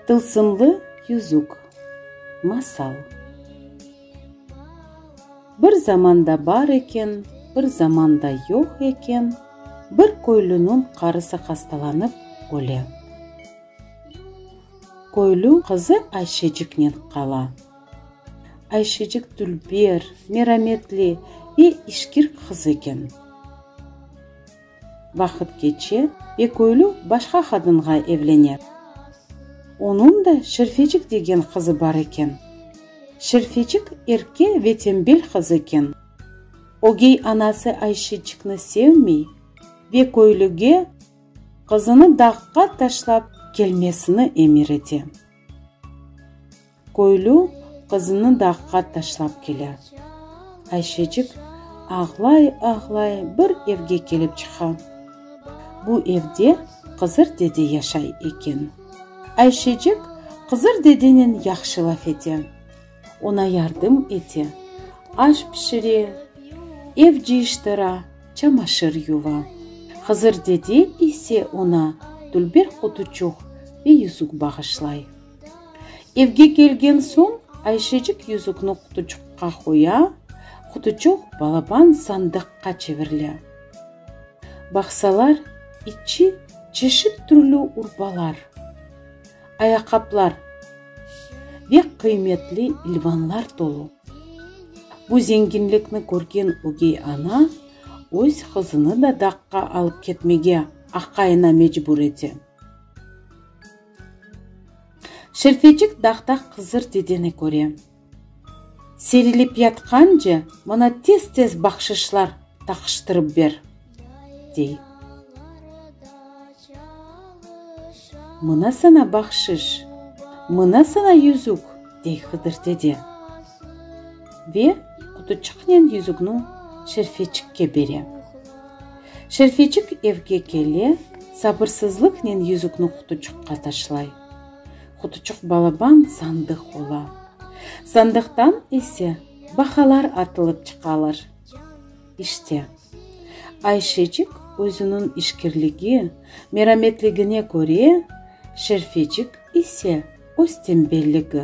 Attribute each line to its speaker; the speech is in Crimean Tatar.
Speaker 1: Tılsımlı yüzük. Masal. Bir zamanda bar eken, bir zamanda yoq eken, bir köylüniñ qarısı hastalanıp öle. Köylü qızı Ayşeciknen qala. Ayşecik dülber, merametli ve işkir qız eken. Vaqıt keçe ve köylü başqa qadınğa evlene. Onıñ da Şerfecik degen qızı bar eken. Şerfecik erke ve tembel qız eken. Ögey anası Ayşecikni sevmey ve köylüge qızını dağqa taşlap kelmesini emir ete. Köylü qızını dağğa taşlap kele. Ayşecik ağlay-ağlay bir evge kelip çıqa. Bu evde Qızır dede yaşay eken. Ayşecik Qızır dedenen yahşı laf ete, oña yardım ete, aş pişire, ev cıyıştıra, çamaşır yuva. Qızır dede ise oña tülber qutuçuq ve yüzük bağışlay. Evge kelgen soñ, Ayşecik yüzükni qutuçuqqa qoya, qutuçuq balaban sandıqqa çevirile. Baqsalar, içi çeşit türlü urbalar, ayaqaplar ve qıymetli ilvanlar tolu. Bu zenginlikni körgen ögey ana öz qızını da daqqa alıp ketmege aqayına mecbur ete. Şerfecik dağda Hızır dedeni köre. Serilip yatqance, mına tez-tez bahşışlar taqıştırıp ber, dey. Mına saña bahşış, mına saña yüzük, dey Hıdır dede. Ve qutuçıqnen yüzükni Şerfecikke bere. Şerfecik evge kele, sabırsızlıqnen yüzükni qutuçuqqa taşlay. Qutuçuq balaban sandıq ola. Sandıqtan ise bahalar atılıp çıqalar. İşte, Ayşecik özüniñ işkirligi, merametligine köre, Şerfecik ise öz tembelligi,